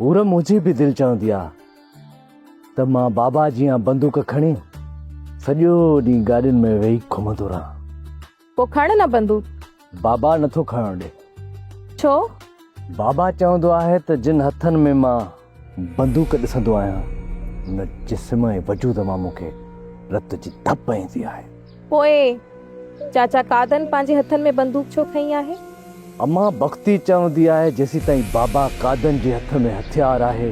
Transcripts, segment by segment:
حور منهنجي به دل چوندي آ ته مان بابا جيان بندوق کڻي سڄو ڏينهن گاڏين ۾ ويهي گهمندو رهان. پوء کڻ نه بندوق. بابا نٿو کڻڻ ڏي. ڇو؟ بابا چوندو آهي ته جن هٿن ۾ مان بندوق ڏسندو آهيان ان جسم ۽ وجود مان مون کي رت جي ڌپ ايندي آهي. پوء چاچا قادن پنهنجي هٿن ۾ بندوق ڇو کنئي آهي؟ اما بختي چوندي آهي جيسيتائين بابا قادن جي هٿ ۾ هٿيار آهي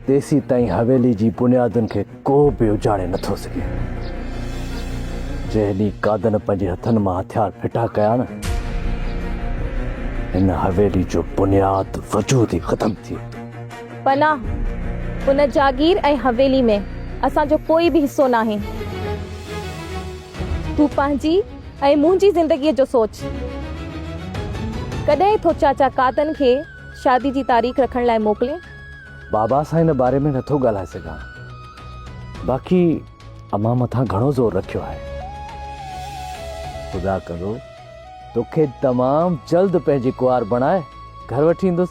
تيسيتائين حويلي جي بنيادن کي ڪو به اجاڙي نٿو سگهي. جنهن ڏينهن قادن پنهنجي هٿن مان هٿيار ڦٽا ڪيا نه هن حويلي جو بنياد وجود ئي ختم ٿي ويندو. پناهه، ان جاگير ۽ حويلي ۾ اسان جو ڪوئي به حصو ناهي. تون پنهنجي ۽ منهنجي زندگيء جو سوچ. ڪڏهن ٿو چاچا قادن کي شادي جي تاريخ رکڻ لاء موڪلين؟ بابا سان ان باري ۾ نٿو ڳالهائي سگهان. باقي امان مٿان گهڻو زور رکيو آهي. خدا ڪندو توکي تمام جلد پنهنجي ڪنوار بڻائي گهر وٺي ايندس.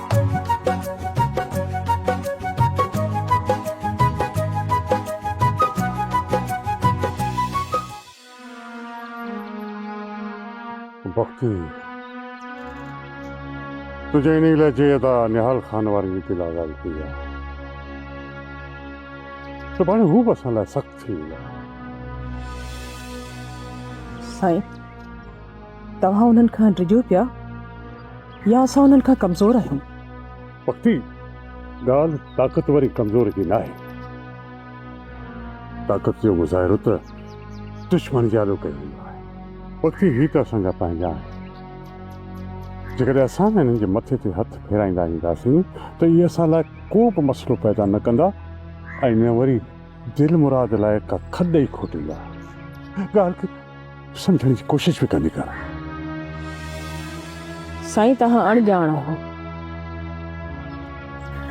بختي تنهنجي انهي لهجي ادا نهال خان واري ريت لازاري ٿي ويا. سڀاڻي هو به اسان لاء سخت ٿي ويندا. سائين توهان انهن کان ڊڄو پيا. يا اسان انهن کان ڪمزور آهيون؟ وقتي ڳالهه طاقتور ۽ ڪمزور جي ناهي. طاقت جو مظاهرو ته دشمن جي آڏو ڪيو ويندو آهي. وقتي هي ته اسان جا پنهنجا آهن. جيڪڏهن اسان انهن جي مٿي تي هٿ ڦيرائيندا اينداسين ته اهي اسان لاء ڪو به مسئلو پيدا نه ڪندا ۽ نه وري دلمراد لاء ڪا کڏ ئي کوٽيندا. ڳالهه سمجهڻ جي ڪوشش به ڪندي ڪر. سائين توهان اڻ ڄاڻ آهيو.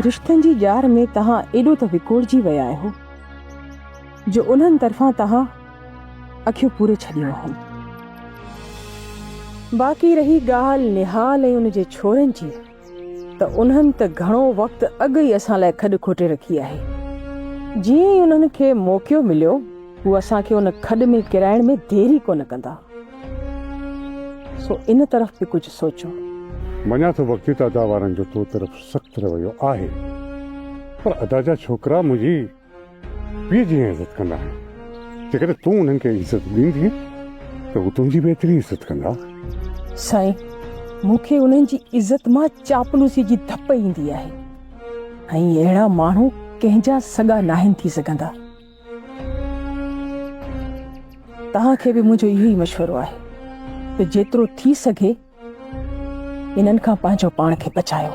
رشتن جي ڄار ۾ توهان ايڏو ته وڪوڙجي ويا آهيو جو انهن طرفان توهان اکيون پوري ڇڏيون آهن. باقي رهي ڳالهه نهال ۽ ان جي ڇورن جي. ته انهن ته گهڻو وقت اڳ ئي اسان لاء کڏ کوٽي رکي آهي. جيئن ئي انهن کي موقعو مليو، هو اسان کي ان کڏ ۾ ڪرائڻ ۾ دير ئي ڪونه ڪندا. سو ان طرف به ڪجهه سوچو. مڃان ٿو وقتي تعداد وارن جو تو طرف سخت رويو آهي، پر ادا جا ڇوڪرا منهنجي. پيء جيئن عزت ڪندا آهن، جيڪڏهن تون انهن کي عزت ڏيندين ته هو تنهنجي به ايتري عزت ڪندا. سائين، مون کي انهن جي عزت مان چاپلوسي جي ڌپ ايندي آهي ۽ اهڙا ماڻهو ڪنهن جا سڳا ناهن ٿي سگهندا. توهان کي به منهنجو اهو ئي مشورو آهي ته جيترو ٿي سگهي انهن کان پنهنجو پاڻ کي بچايو.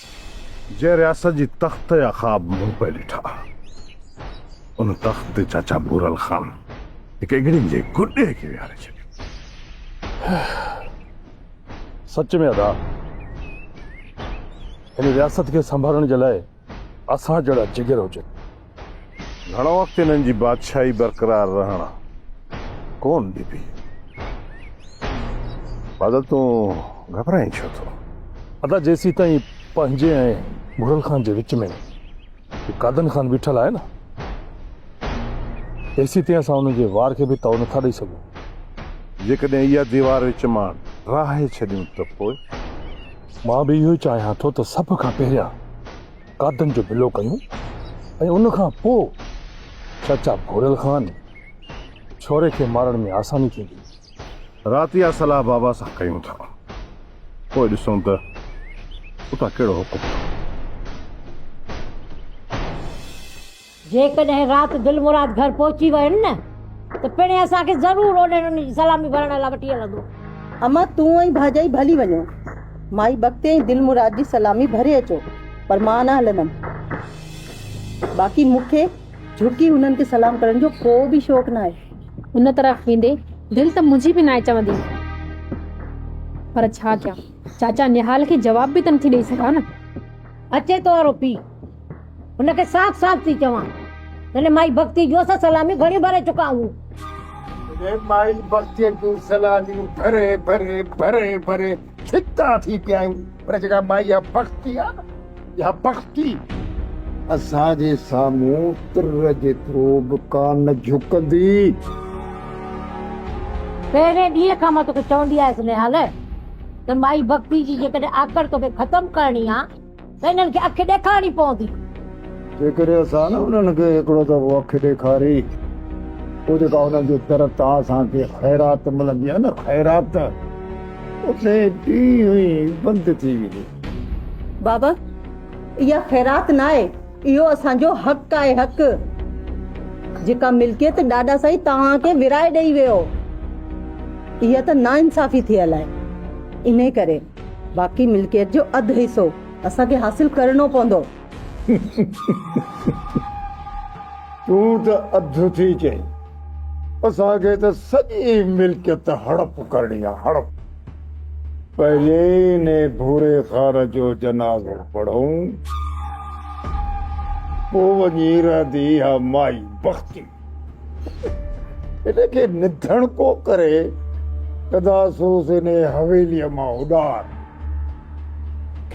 جنهن رياست جي تخت جا خواب مون پئي ڏٺا، ان تخت تي چاچا ڀورل خان هڪ اگهڙين جي گڏي کي ويهاري ڇڏيو. سچ ۾ ادا، هن رياست کي سنڀالڻ جي لاء اسان جهڙا جگر هجن. گهڻو وقت انهن جي بادشاهي برقرار رهڻ ڪون ڏبي. بادل تون گهٻرائين ڇو ٿو؟ ادا جيسيتائين پنهنجي ۽ گهرل خان جي وچ ۾ قادن خان بيٺل آهي نه تيسيتائين اسان ان جي وار کي به تئو نٿا ڏئي سگهون. جيڪڏهن اها ديوار وچ مان ڊاهي ڇڏيون ته پوء؟ مان به اهو ئي چاهيان ٿو ته سڀ کان پهريان ڪاڌن جو بلو ڪيون ۽ ان کان پوء چاچا ڀوريل خان ڇوري کي مارڻ ۾ آساني ٿيندي. رات اها صلاح بابا سان ڪيون ٿا، پوء ڏسون ته اتان ڪهڙو حڪم ٿو. جيڪڏهن رات دلمراد گهر پهچي وين نه ته پڻهين اسان کي ضرور اونهين انهن جي سلامي ڀرڻ لاء وٺي هلندو. امان تون ۽ ڀاڄائي ڀلي وڃو. مائي بختي ۽ دلمراد جي سلامي ڀري اچو پر مان نه هلندم. باقي مون کي جهڪي هنن کي سلام ڪرڻ جو ڪو به شوق ناهي. ان طرف ويندي دل ته منهنجي به ناهي چوندي پر ڇا ڪيان چاچا نهال کي جواب به ته نٿي ڏئي سگهان نه. اچي تو وارو پيء. هن کي صاف صاف ٿي چوان. تنهنجي مائي بختي جون اسان سلاميون گهڻيون ڀري چڪا آهيون. تنهنجي مائي بختي جون سلاميون ڀري ڀري ڀري ڀري ڇتا ٿي پيا آهيون. پر جيڪا مائي اها بختي آهي نه اها بختي اسان جي سامهون تر جيترو به ڪانه جهڪندي. پهرين ڏينهن کان مان توکي چوندي آيس نهال ته مائي بختي جي جيڪڏهن آڪڙ توکي ختم ڪرڻي آهي. ته انهن کي اک ڏيکارڻي پوندي. جيڪڏهن اسان نه انهن کي هڪڙو دفعو اک ڏيکاري، پوء جيڪا انهن جي طرف تان اسان کي خيرات ملندي آهي نه خيرات، اتي ٽينهن ئي بند ٿي ويندي. بابا، اها خيرات ناهي، اهو اسان جو حق آهي، حق. جيڪا ملڪيت ڏاڏا سائين توهان کي ورهائي ڏئي ويو، اها ته ناانصافي ٿيل آهي، انهي ڪري. باقي ملڪيت جو اڌ حصو اسان کي حاصل ڪرڻو پوندو. تون ته اڌ ٿي چئين. اسان کي ته سڄي ملڪيت هڙپ ڪرڻي آهي هڙپ. پهرين ان ڀوري خان جو جنازو پڙهون. پوء وڃي رهندي اها مائي بختي. ان کي نڌڻڪو ڪري ادا سوز انهي حويليء مان اڏار.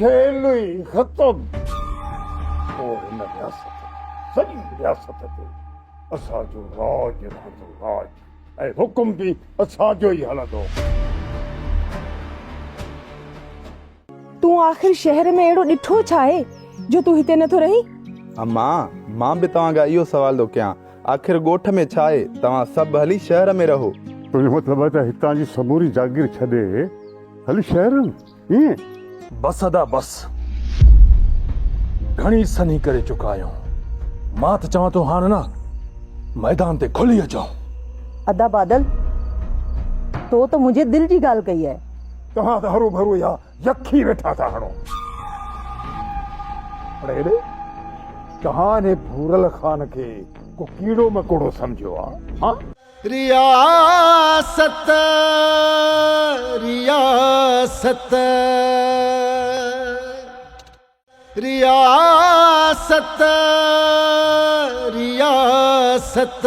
کيل ئي ختم. پوء هن رياست، سڄي رياست تي اسان جو راڄ رهندو، راڄ ۽ حڪم به اسان جو ئي هلندو. تون آخر شهر ۾ اهڙو ڏٺو ڇا آهي جو تون هتي نٿو رهين؟ امان، مان به توهان کان اهو سوال ٿو ڪيان، آخر ڳوٺ ۾ ڇا آهي، توهان سڀ هلي شهر ۾ رهو. تنهنجو مطلب آهي ته هتان جي سموري جاگير ڇڏي هلي شهر رهون، ائين؟ بس ادا بس، گهڻي سنهي ڪري چڪا آهيون، مان ته چوان ٿو هاڻ نه ميدان تي کلي اچون. ادا بادل، تو ته منهنجي دل جي ڳالهه ڪئي آهي. توهان ته هروڀرو اها يخ ئي ويٺا ٿا هڻو. پر هيڏي توهان انهي ڀورل خان کي ڪو ڪيڙو مڪوڙو سمجهيو آ هان؟ رياست رياست رياست رياست.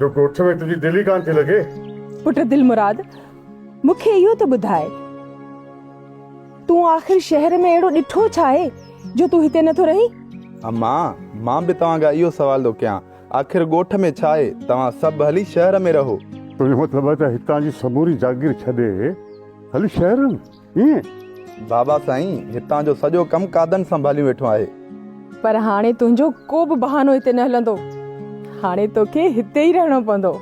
جو ڳوٺ ۾ تنهنجي دل ئي ڪانه ٿي لڳي. پٽ دلمراد، مون کي اهو ته ٻڌاء، تون آخر شهر ۾ اهڙو ڏٺو ڇا آهي، جو تون هتي نٿو رهين؟ اما، مان به توهان کان اهو سوال ٿو ڪيان، آخر ڳوٺ ۾ ڇا آهي، توهان سڀ هلي شهر ۾ رهو. تنهنجو مطلب آهي ته هتان جي سموري جاگير ڇڏي هلي شهر ۾؟ بابا سائين هتان جو سڄو ڪم قادن سنڀاليون ويٺو آهي. پر هاڻي تنهنجو ڪو به بهانو هتي نه هلندو. هاڻي توکي هتي ئي رهڻو پوندو.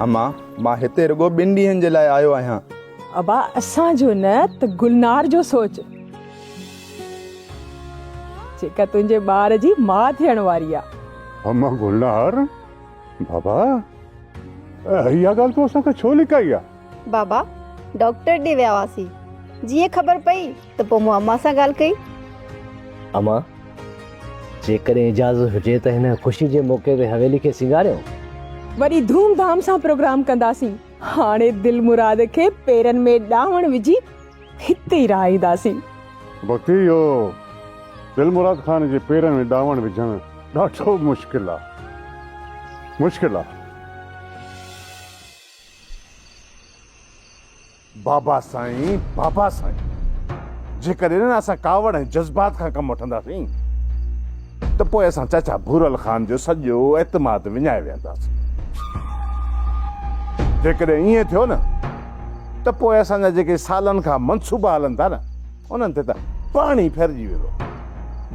اما مان هتي رڳو ٻن ڏينهن جي لاء آيو آهيان. ابا اسان جو نه ته گلنار جو سوچ. جيڪا تنهنجي ٻار جي ماء ٿيڻ واري آهي. اما گلنار بابا اها ڳالهه تو اسان کان ڇو لڪائي آهي. بابا ڊاڪٽر ڏي ويا هئاسين. جيئن خبر پئي ته پوء مون امان سان ڳالهه ڪئي. امان! جيڪڏهن اجازت هجي ته هن خوشي جي موقعي تي حويلي کي سينگاريون. وڏي ڌوم ڌام سان پروگرام ڪنداسين. هاڻي دلمراد کي پيرن ۾ ڏانوڻ وجهي هتي ئي رهائينداسين. ڀڳتي اهو دلمراد خان جي پيرن ۾ ڏانوڻ وجهڻ ڏاڍو مشڪل آ. مشڪل آ. بابا سائين بابا سائين جيڪڏهن اسان ڪاوڙ ۽ جذبات کان ڪم وٺنداسين ته پوء اسان چاچا ڀورل خان جو سڄو اعتماد وڃائي ويهنداسين جيڪڏهن ائين ٿيو نه ته پوء اسان جا جيڪي سالن کان منصوبا هلن ٿا نه انهن تي ته پاڻ ئي ڦرجي ويندو.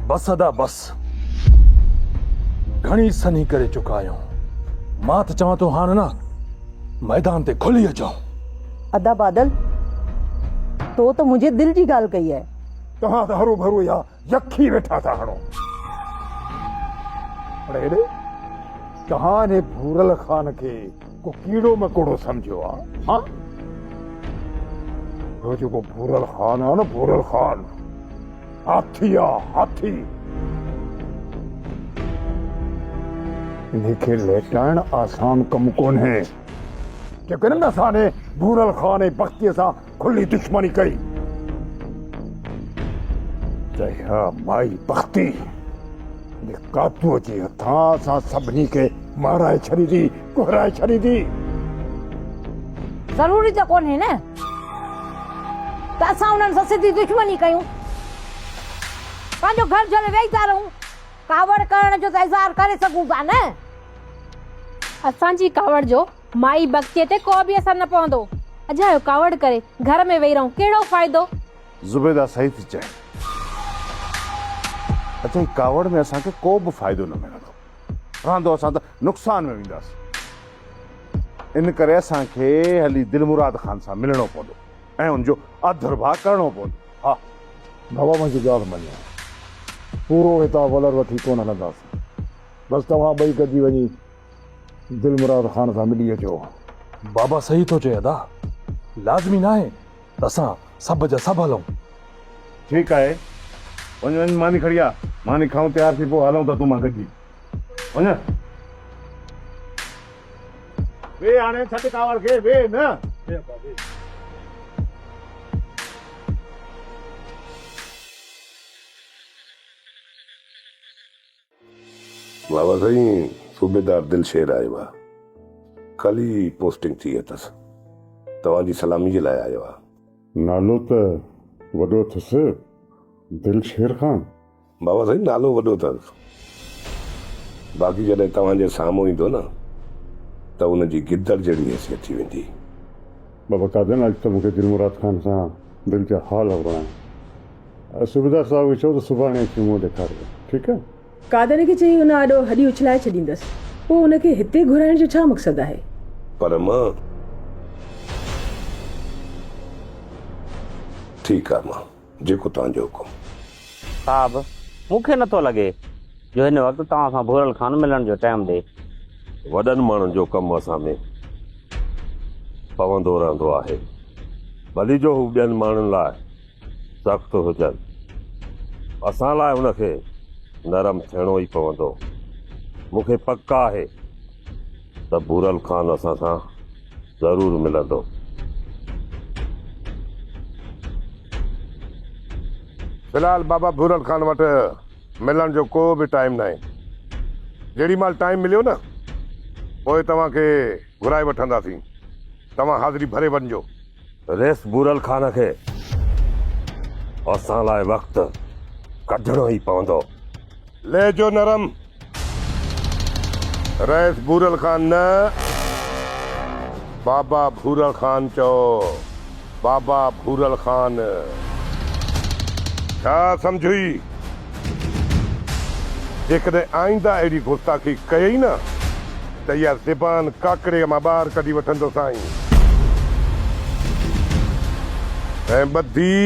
بس ادا بس. گهڻي سنهي ڪري چڪا آهيون. مان ته چوان ٿو هاڻ نه ميدان تي کلي اچون. ادا بادل تو ته منهنجي دل جي ڳالهه ڪئي آهي. توهان ته هروڀرو اها يڪ ئي ويٺا ٿا هڻو. اڙي اڙي توهان انهي ڀورل خان کي. ڪو ڪيڙو مڪوڙو سمجهيو آ ها اهو جيڪو ڀورل خان آ نه ڀورل خان هاٿي آ هاٿي انهي کي ليٽائڻ آسان ڪم ڪونهي جيڪڏهن اسان ني ڀورل خان ۽ بختي سان کلي دشمني ڪئي ته اها مائي بختي ان ڪاتوء جي هٿان اسان سڀني کي مارائي ڇڏيندي ڪهرائي ڇڏيندي ضروري ته ڪونهي نه ته اسان انهن سان سڌي دشمني ڪيون پنهنجو گهر جهلي ويهي ٿا رهون ڪاوڙ ڪرڻ جو ته اظهار ڪري سگهون ٿا نه اسان جي ڪاوڙ جو مائي بگچي تي ڪو به اثر نه پوندو. اجايو ڪاوڙ ڪري گهر ۾ ويهي رهون، ڪهڙو فائدو؟ زبيده صحيح ٿي چئين. اجائي ڪاوڙ ۾ اسان کي ڪو به فائدو نه ملندو. رهندو اسان ته نقصان ۾ وينداسين. ان ڪري اسان کي هلي دلمراد خان سان ملڻو پوندو ۽ ان جو اڌ رڀاء ڪرڻو پوندو. ها! بابا منهنجي ڳالهه مڃو. پورو هتان ولر وٺي ڪونه هلنداسين. بس توهان ٻئي گڏجي وڃي دلمراد خان سان ملي اچو. بابا صحيح ٿو چئي ادا. لازمي ناهي ته اسان سڀ جا سڀ هلون. ٺيڪ آهي وڃ وڃ ماني کڻي آ. ماني کائون تيار ٿي پوء هلون ٿا تون مان گڏجي. وڃ. ويهه هاڻي ڇڏ ڪاوڙ کي ويهه نه. ويهه ابا ويهه. واھ واھ سائين صوبيدار دل شير آيو آ ڪل ئي پوسٽنگ ٿي اٿس توهان جي سلامي جي لاء آيو آ. نالو ته وڏو اٿس دل شير خان. واھ واھ سائين نالو وڏو اٿس باقي جڏهن توهان جي سامهون ايندو نه ته ان جي گدڙ جهڙي حيثيت ٿي ويندي. بابا قادن اڄ ته مونکي دلمراد خان سان دل جا حال هرڻا آهن. صوبيدار صاحب کي چئو ته سڀاڻي اچي منهن ڏيکارجي ٺيڪ آهي. قادر کي چئي ان آڏو هڏي اڇلائي ڇڏيندس. پوء ان کي هتي گهرائڻ جو ڇا مقصد آهي؟ پر مان ٺيڪ آهي مان جيڪو توهان جو حڪم. صاحب مون کي نٿو لڳي جو هن وقت توهان سان ڀورل خان ملڻ جو ٽيم ڏي. وڏن ماڻهن جو ڪم اسان ۾ پوندو رهندو آهي ڀلي جو هو ٻين ماڻهن لاء. سخت هجن، اسان لاء ان کي نرم ٿيڻو ئي پوندو. مون کي پڪ آهي ته ڀورل خان اسان سان ضرور ملندو. في الحال بابا ڀورل خان وٽ ملڻ جو ڪو به ٽائيم ناهي. جيڏي مهل ٽائيم مليو نه، پوء توهان کي گهرائي وٺنداسين. توهان حاضري ڀري وڃجو. ريس بورل خان کي اسان لاء وقت ڪڍڻو ئي پوندو. لهجو نرم، ريس بورل خان نه، بابا ڀورل خان چئو، بابا ڀورل خان. ڇا سمجهوئي جيڪڏهن آئنده اهڙي گستاخي ڪيئي نه ته اها زبان ڪاڪڙيء مان ٻاهر ڪڍي وٺندوسانء ۽ ٻڌي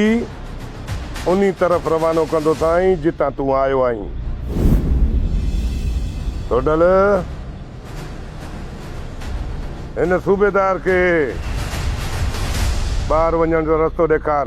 انهي طرف روانو ڪندوسانء جتان تون آيو آهين. ٿوڏل هن صوبيدار کي ٻاهر وڃڻ جو رستو ڏيکار.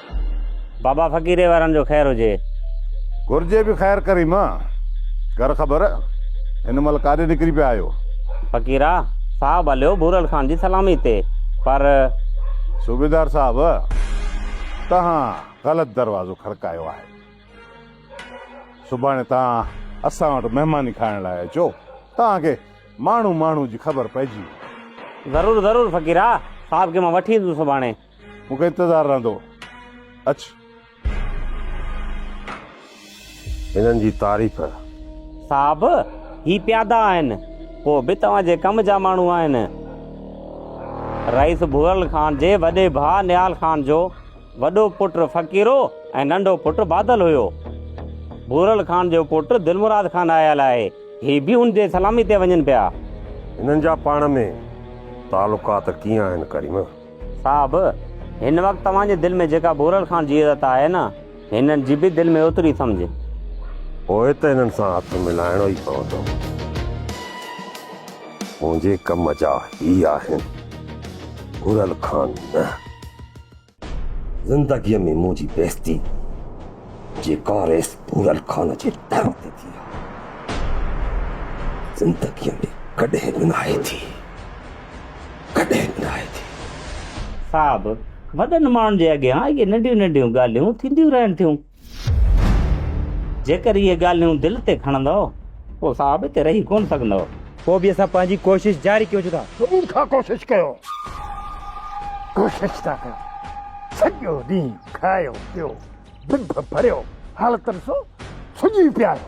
بابا فقيري وارن جو خير هجي. گهرجي به خير ڪريم. گهر خبر هن مهل ڪاڏي نڪري پيا آهيو. فقيرا صاحب هليو ڀورل خان جي سلامي تي پر. صوبيدار صاحب توهان غلط دروازو کڙڪايو آهي. سڀاڻي توهان اسان وٽ مهماني کائڻ لاء اچو. توهان کي ماڻهو ماڻهو جي خبر پئجي ويندي. ضرور ضرور فقيرا صاحب کي مان وٺي ايندس سڀاڻي. مون کي انتظار رهندو. اچ. هنن جي تعريف. صاحب، هي پيادا آهن. ڪو به توهان جي ڪم جا ماڻهو آهن. رئيس ڀورل خان جي وڏي ڀاء نهال خان جو وڏو پٽ فقيرو ۽ ننڍو پٽ بادل هيو. ڀورل خان جو پٽ دلمراد خان آيل آهي. هي به ان جي سلامي تي وڃن پيا. هنن جا پاڻ ۾ تعلقات ڪيئن آهن ڪريم؟ صاحب! هن وقت توهان جي دل ۾ جيڪا ڀورل خان جي عزت آهي نه، هنن جي به دل ۾ اوتري سمجهه. پوء ته هنن سان هٿ ملائڻو ئي پوندو. منهنجي ڪم جا هي آهن، ڀورل خان نه. زندگيء ۾ منهنجي بيعزتي جي ڪا ريس ڀورل خان جي در تي ٿي آهي. زندگيء ۾ ڪڏهن به ناهي ٿي. ڪڏهن نه آهي ٿي. صاحب! وڏن ماڻهن جي اڳيان اهي ننڍيون ننڍيون ڳالهيون ٿينديون رهن ٿيون. جيڪر اهي ڳالهيون دل تي کڻندؤ، پوء صاحب هتي رهي ڪونه سگهندؤ. پوء به اسان پنهنجي ڪوشش جاري ڪيون ٿا. صبح کان ڪوشش ڪيو. ڪوشش ٿا ڪيون. سڄو ڏينهن کايو پيو، ڀڀ ڀريو، حالتن سو سڄي پياريو.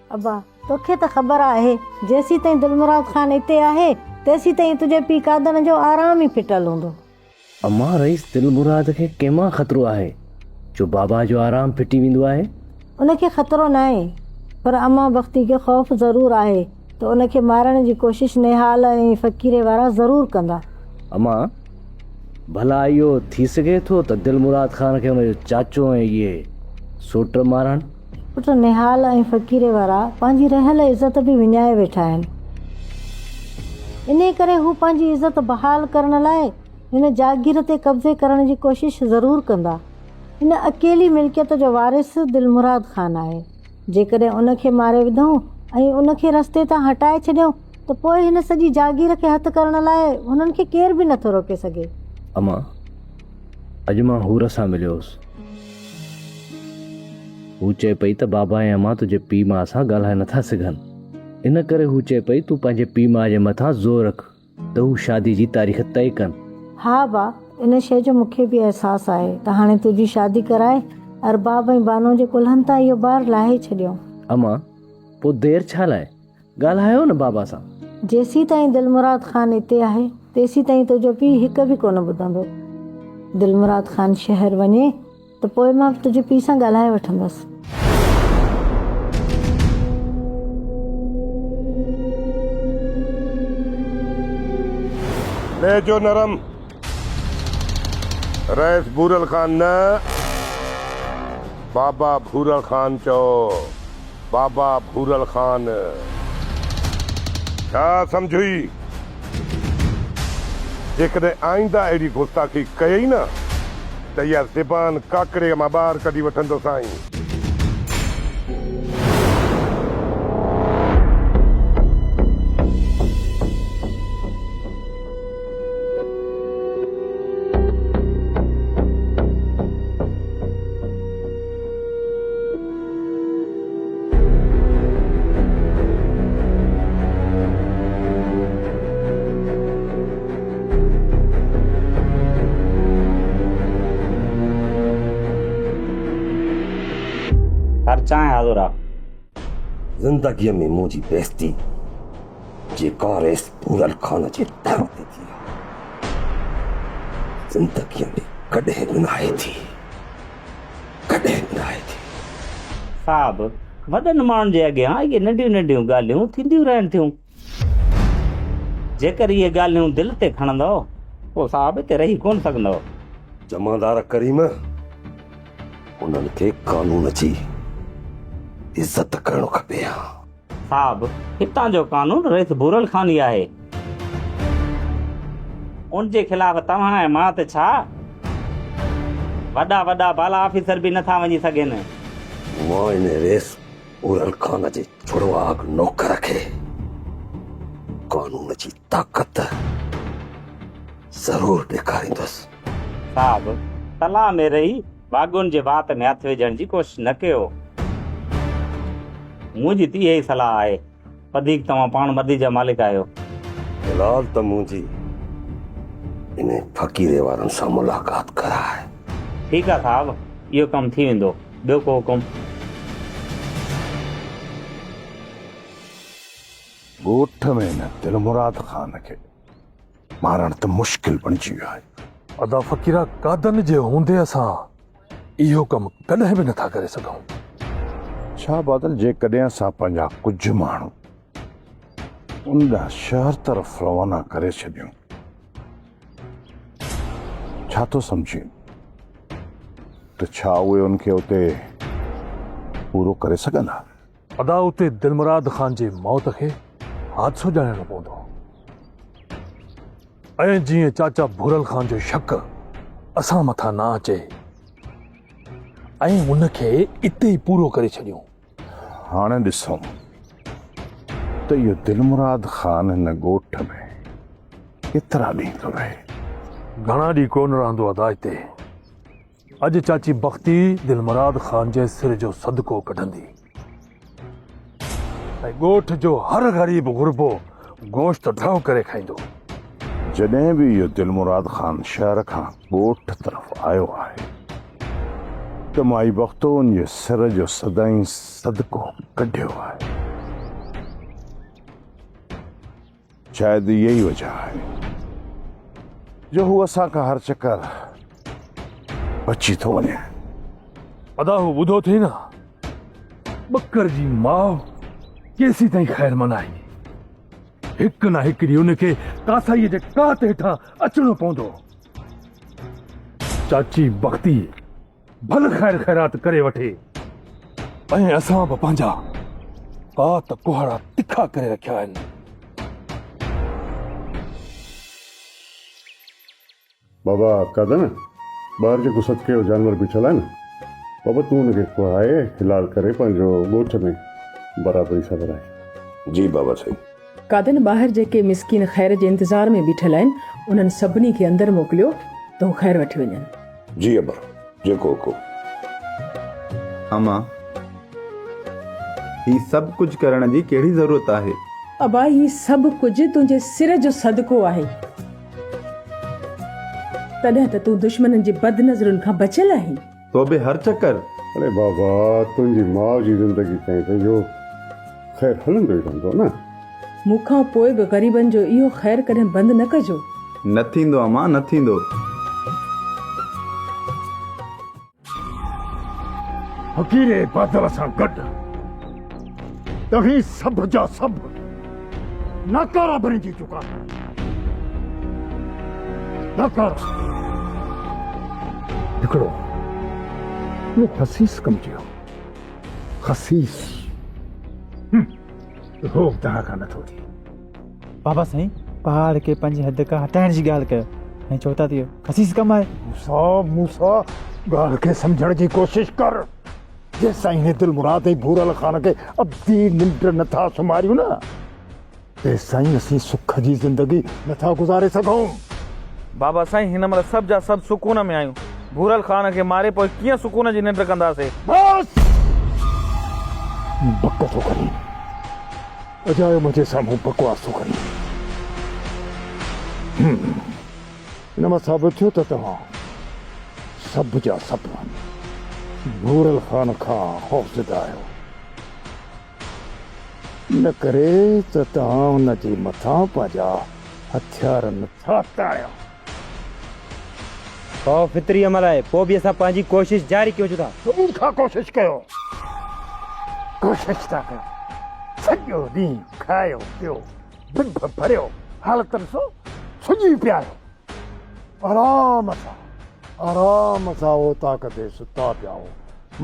ابا، توکي ته خبر آهي، جيسيتائين دلمراد خان اتي آهي، تيسيتائين تنهنجي پيء قادر جو آرام ئي ڦٽل هوندو. امان، رئيس دلمراد کي ڪنهن مان خطرو آهي، جو بابا جو آرام ڦٽي ويندو آهي؟ ان کي خطرو ناهي، پر امان بختي کي خوف ضرور آهي ته ان کي مارڻ جي ڪوشش نهال ۽ فقيري وارا ضرور ڪندا. امان، ڀلا اهو ٿي سگهي ٿو ته دلمراد خان کي ان جو چاچو ۽ اهي سوٽ مارن؟ پٽ نهال ۽ فقيري وارا پنهنجي رهيل عزت به وڃائي ويٺا آهن. انهي ڪري هو پنهنجي عزت بحال ڪرڻ لاء هن جاگير تي قبضي ڪرڻ جي ڪوشش ضرور ڪندا. ان اڪيلي ملڪيت جو وارث دلمراد خان آهي. جيڪڏهن ان کي ماري وڌئون ۽ ان کي رستي تان هٽائي ڇڏيون ته پوء هن سڄي جاگير کي هٿ ڪرڻ لاء هنن کي ڪير به نٿو روڪي سگهي. امان! اڄ مان حور سان مليو هوس. هو چئي پئي ته بابا ۽ امان تنهنجي پيء ماء سان ڳالهائي نٿا سگهن. ان ڪري هو چئي پئي تون پنهنجي پيء ماء جي مٿان زور رک ته هو شادي جي تاريخ طئي ڪن. ها با، ان شيء جو مون کي به احساس آهي ته هاڻي تنهنجي شادي ڪرائي ارباب ۽ بانوء جي ڪلهن تان اهو بار لاهي ڇڏيون. امان، پوء دير ڇا لاء؟ ڳالهايو نه بابا سان. جيسين تائين دلمراد خان اتي آهي تيسين تائين تنهنجو پيء هڪ به ڪونه ٻڌندو. دلمراد خان شهر وڃي ته پوء مان به تنهنجي پيء سان ڳالهائي وٺندس. لهجو نرم رئيس ڀورل خان نه بابا ڀورل خان چئو. بابا ڀورل خان ڇا سمجهيئي؟ جيڪڏهن آئينده اهڙي گستاخي ڪيئي نه ته اها زبان ڪاڪڙيء مان ٻاهر ڪڍي وٺندوسانء. هر چانهه حاضر آ. زندگيء ۾ منهنجي بيعزتي جي ڪا ريس ڀورل خان جي در تي ٿي آ. زندگيء ۾ ڪڏهن به ناهي ٿي. ڪڏهن به ناهي ٿي. صاحب! وڏن ماڻهن جي اڳيان اهي ننڍيون ننڍيون ڳالهيون ٿينديون رهن ٿيون. جيڪر اهي ڳالهيون دل تي کڻندؤ، پوء صاحب هتي رهي ڪونه سگهندؤ. جمعدار ڪريم، انهن کي قانون جي عزت ڪرڻ کپي ها. صاحب هتان جو قانون رئيس ڀورل خان ئي آهي. ان جي خلاف توهان ۽ مان ته ڇا وڏا وڏا بالا آفيسر به نٿا وڃي سگهن. مان ان رئيس ڀورل خان جي جڙواڳ نوڪر کي قانون جي طاقت ضرور ڏيکاريندس. صاحب تلاء ۾ رهي باغون جي وات ۾ هٿ وجهڻ جي ڪوشش نه ڪيو. منهنجي ته اها ئي صلاح آهي. وڌيڪ توهان پاڻ مدي جا مالڪ آهيو. هلال ته منهنجي انهي فقيري وارن سان ملاقات ڪرائي. ٺيڪ آهي صاحب، اهو ڪم ٿي ويندو. ٻيو ڪو حڪم؟ ڳوٺ ۾ هن دلمراد خان کي مارڻ ته مشڪل بڻجي ويو آهي. ادا فقيرا قادن جي هوندي اسان اهو ڪم ڪڏهن به نٿا ڪري سگهون. ڇا بادل جيڪڏهن اسان پنهنجا ڪجهه ماڻهو ان ڏانهن شهر طرف روانا ڪري ڇڏيون ڇا ٿو سمجهين ته ڇا اهي ان کي اتي پورو ڪري سگهندا؟ ادا اتي دلمراد خان جي موت کي حادثو ڄاڻڻو پوندو ۽ جيئن چاچا ڀورل خان جو شڪ اسان مٿان نه اچي ۽ ان کي اتي ئي پورو ڪري ڇڏيون هاڻي ڏسون ته اهو دلمراد خان هن ڳوٺ ۾ ڪيترا ڏينهن ٿو رهي گهڻا ڏينهن ڪونه رهندو ادا اتي اڄ چاچي بختي دلمراد خان جي سر جو صدقو ڪڍندي ۽ ڳوٺ جو هر غريب غربو گوشت ڍؤ ڪري کائيندو. جڏهن به اهو دلمراد خان شهر کان ڳوٺ طرف آيو آهي ته مائي بختو ان جي سر جو سدائين صدقو ڪڍيو آهي. شايد اها ئي وجه آهي جو هو اسان کان هر چڪر بچي ٿو وڃي. ادا هو ٻڌو اٿئي نه ٻڪر جي ماء ڪيسين تائين خير منائي. هڪ نه هڪ ڏينهن ان کي ڪاسائيء جي ڪات هيٺان اچڻو پوندو. چاچي بختي ڀل خير خيرات ڪري وٺي ۽ اسان به پنهنجا ڪات ڪهاڙا تکا ڪري رکيا آهن. بابا آڪا ته نه ٻاهر جيڪو صدقي جو جانور بيٺل آهي نه بابا تون ان کي ڪهائي حلال ڪري پنهنجو ڳوٺ ۾ برابري سان ورائي. جي بابا سائين. قادن ٻاهر جيڪي مسڪين خير جي انتظار ۾ بيٺل آهن، انهن سڀني کي اندر موڪليو ته هو خير وٺي وڃن. جي ابا، جيڪو حڪم. اما، هي سڀ ڪجهه ڪرڻ جي ڪهڙي ضرورت آهي؟ ابا، هي سڀ ڪجهه تنهنجي سر جو صدقو آهي. تڏهن ته تون دشمنن جي بد نظرن کان بچيل آهين. تو به هر چڪر. اڙي بابا تنهنجي ماء جي زندگي تائين ته اهو خير هلندو ئي رهندو نه. مون کان پوء به غريبن جو اهو خير ڪڏهن بند نه ڪجو. نه ٿيندو امان نه ٿيندو. فقيري بادل سان گڏ. توهين سڀ جا سڀ ناڪارا بڻجي چڪا آهيو. ناڪارا. هڪڙو اهو خسيس ڪم جي هو. خسيس. اهو به توهان کان نٿو ٿئي. بابا سائين پهاڙ کي پنج حد کان هٽائڻ جي ڳالهه ڪيو ۽ چو ٿا ته اهو خسيس ڪم آهي. موسا موسا ڳالهه کي سمجهڻ جي ڪوشش ڪر. جيستائين هي دل مراد ۽ ڀورل خان کي ابدي ننڊ نه ٿا سمهاريون نه تيستائين اسين سک جي زندگي نه ٿا گذاري سگهون. بابا سائين هن مهل سڀ جا سڀ سڪون ۾ آهيون ڀورل خان کي ماري پوء ڪيئن سڪون جي ننڊ ڪنداسي. بس! بڪ ٿو ڪرين اجايو منهنجي سامهون بڪواس ٿو ڪرين. ان مان ثابت ٿيو ته توهان سڀ جا سڀ نورل خان کان خوفزده آهيو، ان ڪري ته توهان ان جي مٿان پنهنجا هٿيار نٿا تاڻيو. اهو فطري عمل آهي، پوء به اسان پنهنجي ڪوشش جاري ڪيون ٿا. اميد کان ڪوشش ڪيو، ڪوشش ٿا ڪيون، سڄو ڏينهن کايو پيو. ڊڀ ڀريو حالتن سون سڄي پياريو آرام سان آرام سان اوطاق تي ستا پيا هو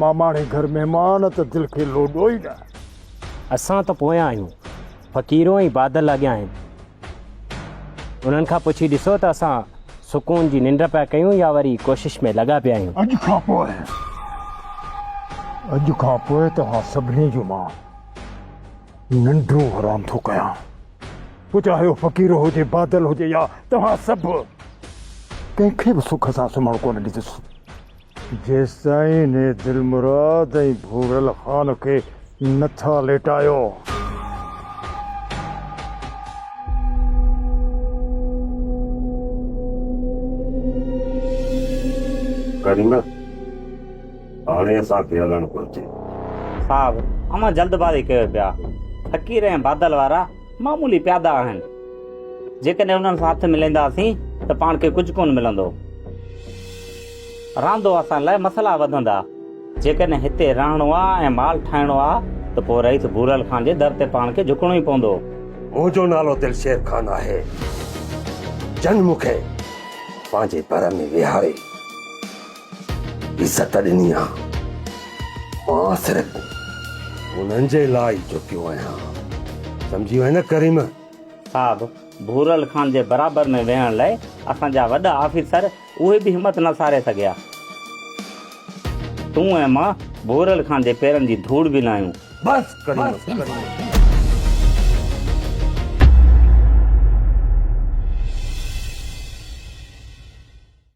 ماماڻي گهر مهمان ته دل کي لوڏو ئي نه. اسان ته پويان آهيون فقيرو ۽ بادل اڳيان آهن انهن کان پڇي ڏسو ته اسان سڪون جي ننڊ پيا ڪيون يا وري ڪوشش ۾ لڳا پيا آهيون. اڄ کان پوء اڄ کان پوء توهان سڀني جو مان. ننڊون حرام ٿو ڪيان پوء چاهي هو فقير هجي بادل هجي يا توهان سڀ ڪنهن کي به سک سان سمهڻ ڪونه ڏيندس جيستائين هي دلمراد ۽ ڀورل خان کي نه ٿا ليٽايو. ڪريمه! هاڻي اسان کي هلڻ گهرجي. صاحب اوهان جلدبازي ڪيو پيا. فقير ۽ بادل وارا معمولي پيادا آهن. جيڪڏهن انهن سان هٿ ملينداسين ته پاڻ کي ڪجهه ڪونه ملندو. راندو اسان لاء مسئلا وڌندا. جيڪڏهن هتي رهڻو آ ۽ مال ٺاهڻو آ ته پوء رئيس ڀورل خان جي در تي پاڻ کي جهڪڻو ئي پوندو. منهنجو نالو دلشير خان آهي. جن مون کي پنهنجي ڀر ۾ ويهاري. عزت ڏني آ مان صرف انهن جي لاء ئي جهڪيو آهيان سمجهي وئين نه ڪريم. صاحب ڀورل خان جي برابر ۾ ويهڻ لئه اسان جا وڏا آفيسر اهي به همت نه ساري سگهيا. تون ۽ مان ڀورل خان جي پيرن جي ڌوڙ به ناهيون. بس ڪريم.